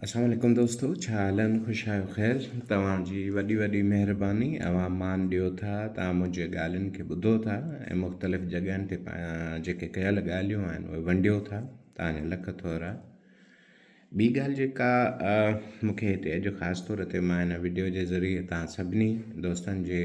السلام عليڪم دوستو ڇا حال آهن خوش آهيو خير توهان جي وڏي وڏي مهرباني اوهان مان ڏيو ٿا توهان منهنجي ڳالهين کي ٻڌو ٿا ۽ مختلف جڳهين تي جيڪي ڪيل ڳالهيون آهن اهي ونڊيو ٿا توهان جا لک ٿورا ٻي ڳالهه جيڪا مونکي هتي اڄ خاص طور تي مان هن وڊيو جي ذريعي توهان سڀني دوستن جي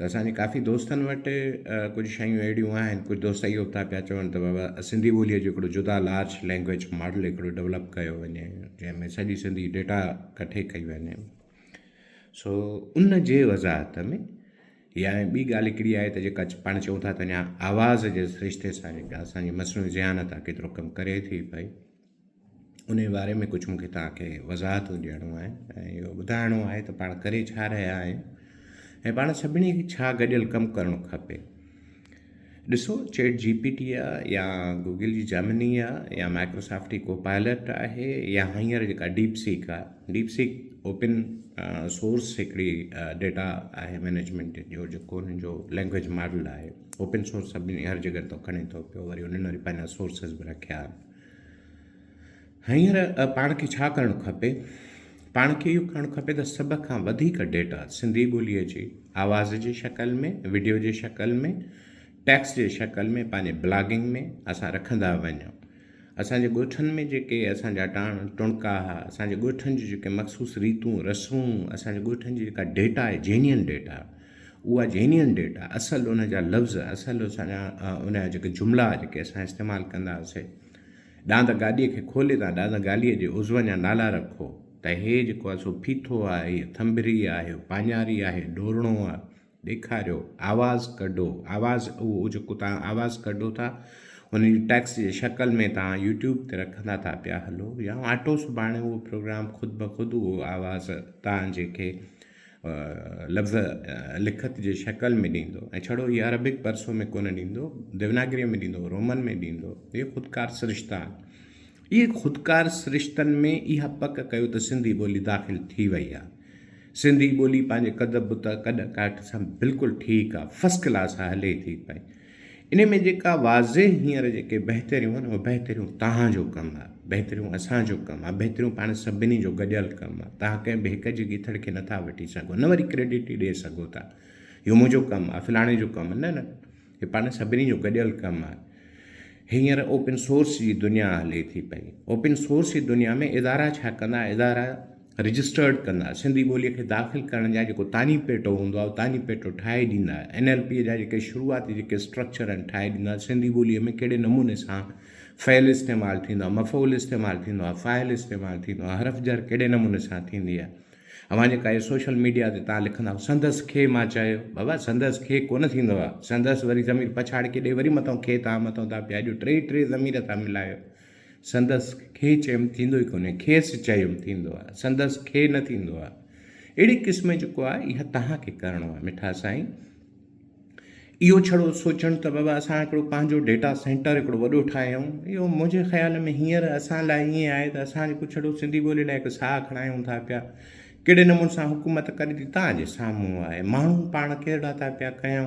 ته اسان جي ڪافي دوستن وٽ ڪجهه شيون اهڙيون آهن ڪجهه دوست اهو به ٿا پيا چون ته بابا سنڌي ٻوليء جو هڪڙو جدا لارج لينگويج ماڊل هڪڙو ڊولپ ڪيو وڃي جنهن ۾ سڄي سنڌي ڊيٽا ڪٺي ڪئي وڃي سو ان جي وضاحت ۾ يا ٻي ڳالهه هڪڙي آهي ته جيڪا پاڻ چئون ٿا ته اڃا آواز جي سرشتي سان جيڪا اسان جي مصنوعي ذهانت آهي ڪيترو ڪم ڪري ٿي پئي انهي باري ۾ ڪجهه مون کي توهان کي وضاحتون ڏيڻو آهن ۽ اهو ٻڌائڻو آهي ته پاڻ ڪري ڇا رهيا آهيون ۽ پاڻ سڀني کي ڇا گڏيل ڪم ڪرڻو کپي ڏسو چيٽ جي پي ٽي آ يا گوگل جي جامني آ يا مائڪروسافٽ جي ڪو پائلٽ آهي يا هينئر جيڪا ڊيپ سيڪ آ ڊيپ سيڪ اوپن سورس هڪڙي ڊيٽا آهي مينيجمنٽ جو جيڪو هن جو لينگويج ماڊل آهي اوپن سورس سڀني هر جڳهه تو کڻي تو پيو وري هنن وري پنهنجا سورسز به رکيا آهن هينئر پاڻ کي ڇا ڪرڻ کپي؟ پاڻ کي اهو ڪرڻ کپي ته سڀ کان وڌيڪ ڊيٽا سنڌي ٻوليء جي آواز جي شڪل ۾ وڊيو جي شڪل ۾ ٽيڪسٽ جي شڪل ۾ پنهنجي بلاگنگ ۾ اسان رکندا وڃون اسان جي ڳوٺن ۾ جيڪي اسان جا ٽاڻ ٽڻڪا ها اسان جي ڳوٺن جي جيڪي مخصوص ريتون رسمون اسان جي ڳوٺن جي جيڪا ڊيٽا آهي جينين ڊيٽا اها جينين ڊيٽا اصل ان جا لفظ اصل اسان جا ان جا جيڪي جملا جيڪي اسان استعمال ڪندا هئاسي ڏاند گاڏيء کي کولي تان ڏاند گاليء جي عضون جا نالا رکو ته هي جيڪو آهي سو ڦيٿو آهي هي ٿنڀري آهي پاڃاري آهي ڏورڻو آهي ڏيکاريو آواز ڪڍو آواز اهو جيڪو تان آواز ڪڍو ٿا ان جي ٽيڪس جي شڪل ۾ تان يوٽيوب تي رکندا ٿا پيا هلو يا آٽو سڀاڻي اهو پروگرام خود بخود اهو آواز تان جيڪي لفظ لکت جي شڪل ۾ ڏيندو ۽ ڇڙو هي عربڪ پرسو ۾ ڪونه ڏيندو ديوناگريء ۾ ڏيندو رومن ۾ ڏيندو اهي خودڪار سرشتا آهن اهي خودڪار سرشتن ۾ اها پڪ ڪيو ته سنڌي ٻولي داخل ٿي وئي آهي سنڌي ٻولي پنهنجي قدب ته ڪڏ ڪاٺ سان بلڪل ٺيڪ آهي فسڪلاس آهي هلي ٿي پئي انهي ۾ جيڪا واضح هينئر جيڪي بهتريون آهن اهي بهتريون توهان جو ڪم آهي، بهتريون اسان جو ڪم آهي، بهتريون پاڻ سڀني جو گڏيل ڪم آهي، توهان ڪنهن به هڪ جي ڳيٿڙ کي نٿا وٺي سگهو نه وري ڪريڊٽ ئي ڏئي سگهو ٿا اهو منهنجو ڪم آهي فلاڻي جو ڪم نه نه هي پاڻ سڀني جو گڏيل ڪم آهي هينئر اوپن سورس جي دنيا هلي ٿي پئي اوپن سورس جي دنيا ۾ ادارا ڇا ڪندا ادارا رجسٽرڊ ڪندا، سنڌي ٻوليء کي داخل ڪرڻ جا جيڪو تاڃي پيٽو هوندو آهي اهو تاڃي پيٽو ٺاهي ڏيندا، اين ايل پيء جا جيڪي شروعاتي جيڪي اسٽرڪچر آهن ٺاهي ڏيندا، سنڌي ٻوليء ۾ ڪهڙي نموني سان فعل استعمال ٿيندو آهي، مفعول استعمال ٿيندو آهي، فاعل استعمال ٿيندو آهي، حرف جر ڪهڙي نموني سان ٿيندي آهي. اوهان جيڪا اهي سوشل ميڊيا تي تان لکندائو سندس کي مان چيو، بابا سندس کي ڪونه ٿيندو آهي، سندس وري ضمير پڇاڙ ڪيڏي وري مٿو کي تان مٿو تان پيا ڏيو، ٽي ٽي ضمير ٿا ملايو، سندس کي چيم ٿيندو ئي ڪونهي، کيس چيم ٿيندو آ، سندس کي نه ٿيندو آ. اهڙي قسم جي ڪو آ، اها توهان کي ڪرڻو آ مٺا سائين. اهو ڇڙو سوچڻ ته بابا اسان هڪڙو پنهنجو ڊيٽا سينٽر هڪڙو وڏو ٺاهيون، اهو منهنجي خيال ۾ هينئر اسان لاء ائين آهي ته اسان جيڪو ڇڙو سنڌي ٻوليء لاء هڪ ساهه کڻايون ٿا پيا، ڪهڙي نموني سان حڪومت ڪري ٿي توهان جي سامهون آهي. ماڻهو پاڻ ڪهڙا ٿا پيا ڪيون،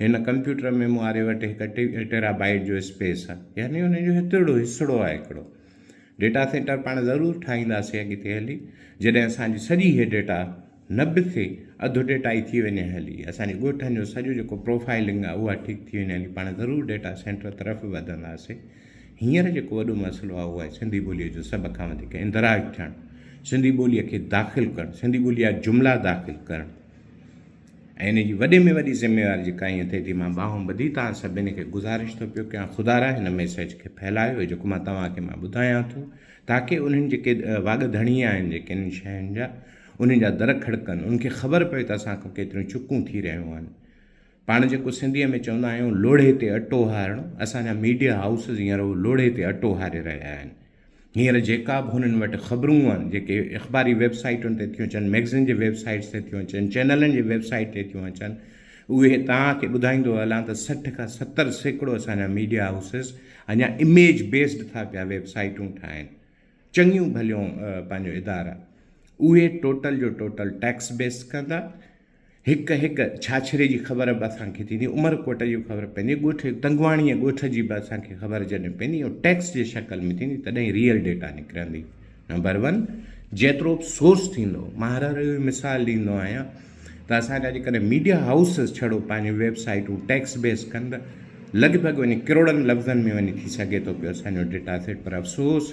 هن ڪمپيوٽر ۾ مون واري وٽ هڪ ٽيرا بائيٽ جو اسپيس آهي يعني ان جو هتڙو هسڙو آهي هڪڙو ڊيٽا سينٽر پاڻ ضرور ٺاهينداسي اڳتي هلي جڏهن اسان جي سڄي هي ڊيٽا نه به ٿي اڌ ڊيٽا ئي ٿي وڃي هلي اسان جي ڳوٺن جو سڄو جيڪو پروفائلنگ آهي اها ٺيڪ ٿي وڃي هلي پاڻ ضرور ڊيٽا سينٽر طرف وڌنداسي هينئر جيڪو وڏو مسئلو آهي اهو آهي سنڌي ٻوليء جو سڀ کان وڌيڪ اندراج ٿيڻ سنڌي ٻوليء کي داخل ڪرڻ سنڌي ٻوليء جا جملا داخل ڪرڻ ۽ ان جي وڏي ۾ وڏي ذميواري جيڪا ائين ٿئي ٿي مان ٻانهون ٻڌي توهان سڀني کي گذارش ٿو پيو ڪيان خدارا هن ميسيج کي ڦهلايو جيڪو مان توهان کي مان ٻڌايان ٿو تاڪي انهن جيڪي واڳ ڌڻي آهن جيڪي انهن شين جا انهن جا در کڙڪن ان کي خبر پوي ته اسان کان ڪيتريون چڪون ٿي رهيون آهن پاڻ جيڪو سنڌيء ۾ چوندا آهيون لوڙهي تي اٽو هارڻو اسان جا ميڊيا هائوسز هينئر اهو لوڙهي تي اٽو هاري رهيا آهن هينئر جيڪا به هنن وٽ خبرون آهن، جيڪي اخباري ويب سائيٽن تي ٿيون اچن، مئگزين جي ويب سائيٽس تي ٿيون اچن، چينلن جي ويب سائيٽ تي ٿيون اچن، اهي توهان کي ٻڌائيندو هلان ته سٺ کان ستر سيڪڙو اسان جا ميڊيا هائوسز اڃا اميج بيسڊ ٿا پيا ويب سائيٽون ٺاهين. چڱيون ڀليون پنهنجو ادارا. اهي ٽوٽل جو ٽوٽل ٽيڪس بيس ڪندا. هڪ هڪ ڇاڇري جي خبر به اسان کي ٿيندي، عمر ڪوٽ جي خبر پوندي، ڳوٺ تنگواڻي ۽ ڳوٺ جي به اسان کي خبر جڏهن پوندي ۽ ٽيڪس جي شڪل ۾ ٿيندي تڏهن ئي ريئل ڊيٽا نڪرندي. نمبر ون جيترو به سورس ٿيندو، مان هر هر اهو مثال ڏيندو آهيان ته اسان جا جيڪڏهن ميڊيا هائوسز ڇڙو پنهنجون ويب سائيٽون ٽيڪس بيس ڪن ته لڳ ڀڳ وڃي ڪروڙن لفظن ۾ وڃي ٿي سگهي ٿو پيو اسان جو ڊيٽا سيٽ پر افسوس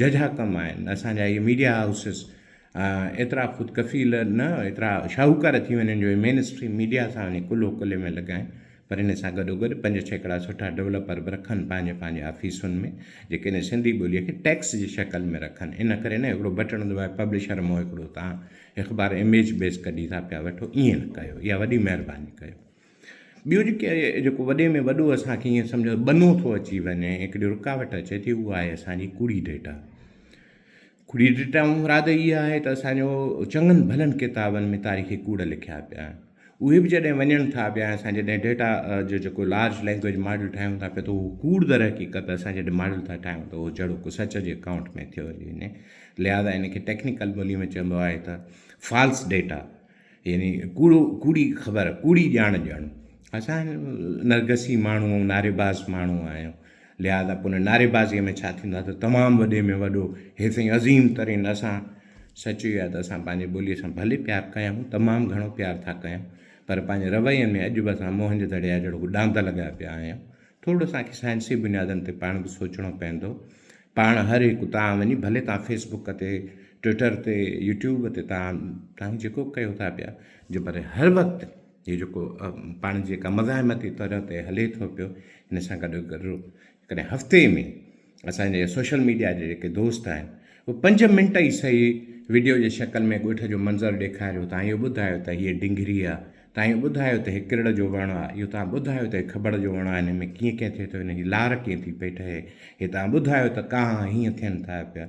ججها ڪم آهن اسان جا اهي ميڊيا هائوسز ايترا خود ڪفيل نه ايترا شاهوڪار ٿي وڃن جو مين اسٽريم ميڊيا سان وڃي ڪلهو ڪلهي ۾ لڳائين پر ان سان گڏو گڏ پنج ڇيڪڙا سٺا ڊولپر به رکن پنهنجي پنهنجي آفيسن ۾ جيڪي ان سنڌي ٻولي کي ٽيڪس جي شڪل ۾ رکن ان ڪري نه هڪڙو بٽڻ دٻائي پبلشر مون هڪڙو تان اخبار اميج بيس ڪڍي ٿا پيا وٺو ائين نه ڪيو اها وڏي مهرباني ڪيو. ٻيو جيڪي جيڪو وڏي ۾ وڏو اسان کي ائين سمجهه ٻنو ٿو اچي وڃي ۽ هڪڙي رڪاوٽ اچي ٿي اهو آهي اسان جي ڪوڙي ڊيٽا ڪوڙي ڊيٽا مان مراد اها آهي ته اسان جو چڱن ڀلن ڪتابن ۾ تاريخي ڪوڙ لکيا پيا آهن اهي به جڏهن وڃن ٿا پيا اسان جڏهن ڊيٽا جو جيڪو لارج لينگويج ماڊل ٺاهيون ٿا پيا ته هو ڪوڙ در حقيقت اسان جڏهن ماڊل ٿا ٺاهيون ته هو جهڙو ڪو سچ جي اڪائونٽ ۾ ٿيو هلي وڃي لهٰذا ان کي ٽيڪنيڪل ٻولي ۾ چئبو آهي ته فالس ڊيٽا يعني ڪوڙو ڪوڙي خبر ڪوڙي ڄاڻ ڄڻ اسان نرگسي ماڻهو ۽ نعريباز ماڻهو آهيون لهٰذا پوء ان نعريبازيء ۾ ڇا ٿيندو آهي ته تمام وڏي ۾ وڏو هي سائين عظيم ترين اسان سچ اهو آهي ته اسان پنهنجي ٻوليء سان ڀلي پيار ڪيائون تمام گهڻو پيار ٿا ڪيائون پر پنهنجي روين ۾ اڄ به اسان موهن جي دڙي جا جهڙوڪ ڏاند لڳا پيا آهيون ٿورڙو اسان کي سائنسي بنيادن تي پاڻ به سوچڻو پوندو. پاڻ هر هڪ اتان وڃي ڀلي توهان فيس بڪ تي، ٽوئيٽر تي، يوٽيوب تي توهان توهان جيڪو به ڪيو ٿا پيا. جو پر هر وقت هي جيڪو پاڻ جي جيڪا مزاحمتي طرح تي هلي ٿو پيو ان سان گڏو گڏ ڪڏهن هفتي ۾ اسان جي سوشل ميڊيا جي جيڪي دوست آهن اهي پنج منٽ ئي سهي وڊيو جي شڪل ۾ ڳوٺ جو منظر ڏيکاريو تان اهو ٻڌايو ته هيء ڊنگري آ تان اهو ٻڌايو ته هي ڪرڙ جو وڻ آ اهو تان ٻڌايو ته هي کبڙ جو وڻ آ هن ۾ ڪيئن ڪيئن ٿئي ٿو هن جي لار ڪيئن ٿي پئي ٺهي هي تان ٻڌايو ته ڪانء هيئن ٿين ٿا پيا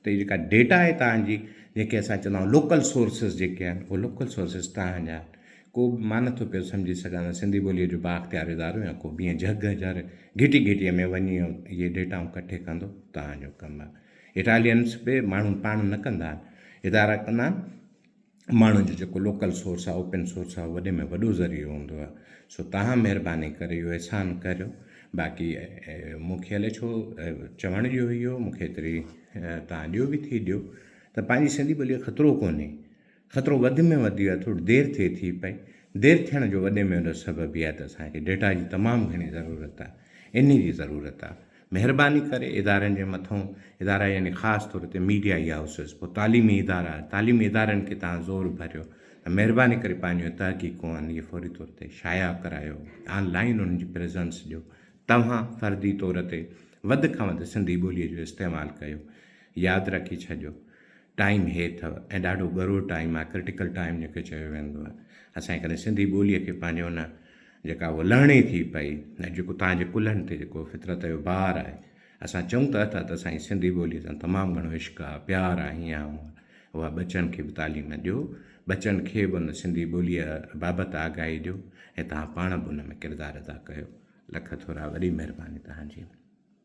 ته هي جيڪا ڊيٽا آهي تان جي جنهن کي اسان چوندا آهيون لوڪل سورسز جيڪي آهن اهي لوڪل سورسز تان جا آهن ڪو به مان نٿو پيو سمجهي سگهان ته سنڌي ٻوليء جو بااختيار ادارو يا ڪو بينهن جهڳ جر گهٽي گهٽيء ۾ وڃي اهي ڊيٽائون ڪٺي ڪندو. توهان جو ڪم اٽالينس به ماڻهو پاڻ نه ڪندا آهن. ادارا ڪندا آهن. ماڻهن جو جيڪو لوڪل سورس آهي، اوپن سورس آهي، اهو وڏي ۾ وڏو ذريعو هوندو آهي. سو توهان مهرباني ڪري اهو احسان ڪريو. باقي مون کي الئي ڇو چوڻ ڏيو اهو مون کي ايتري توهان ڏيو به ٿي ڏيو ته پنهنجي سنڌي ٻوليء کي خطرو ڪونهي. خطرو وڌ ۾ وڌ ويو آهي ٿوري دير ٿئي ٿي پئي دير ٿيڻ جو وڏي ۾ وڏو سبب اهي آهي ته اسان کي ڊيٽا جي تمام گهڻي ضرورت آهي انهي جي ضرورت آهي مهرباني ڪري ادارن جي مٿئون ادارا يعني خاص طور تي ميڊيا اي هائوسز پوء تعليمي ادارا تعليمي ادارن کي تهان زور ڀريو ته مهرباني ڪري پنهنجيون تحقيقون انهي جي فوري طور تي شايع ڪرايو آن لائين انهن جي پريزنس ڏيو توهان فردي طور تي وڌ کان وڌ سنڌي ٻولي جو استعمال ڪيو ياد رکي ڇڏيو ٽائيم هي اٿو ۽ ڏاڍو ڳرو ٽائيم آهي ڪرٽيڪل ٽائيم جنهن کي چيو ويندو آهي اسان جي ڪڏهن سنڌي ٻوليء کي پنهنجي ان جيڪا هو لهڻي ٿي پئي ۽ جيڪو تهان جي ڪلهن تي جيڪو فطرت جو بار آهي اسان چئون ته اٿا ته اسان جي سنڌي ٻوليء سان تمام گهڻو عشق آهي پيار آهي هينئن هونئن اها ٻچن کي به تعليم ڏيو ٻچن کي به ان سنڌي ٻوليء بابت آگاهي ڏيو ۽ تهان پاڻ به ان ۾ ڪردار ادا ڪيو لک ٿورا وڏي مهرباني تهان جي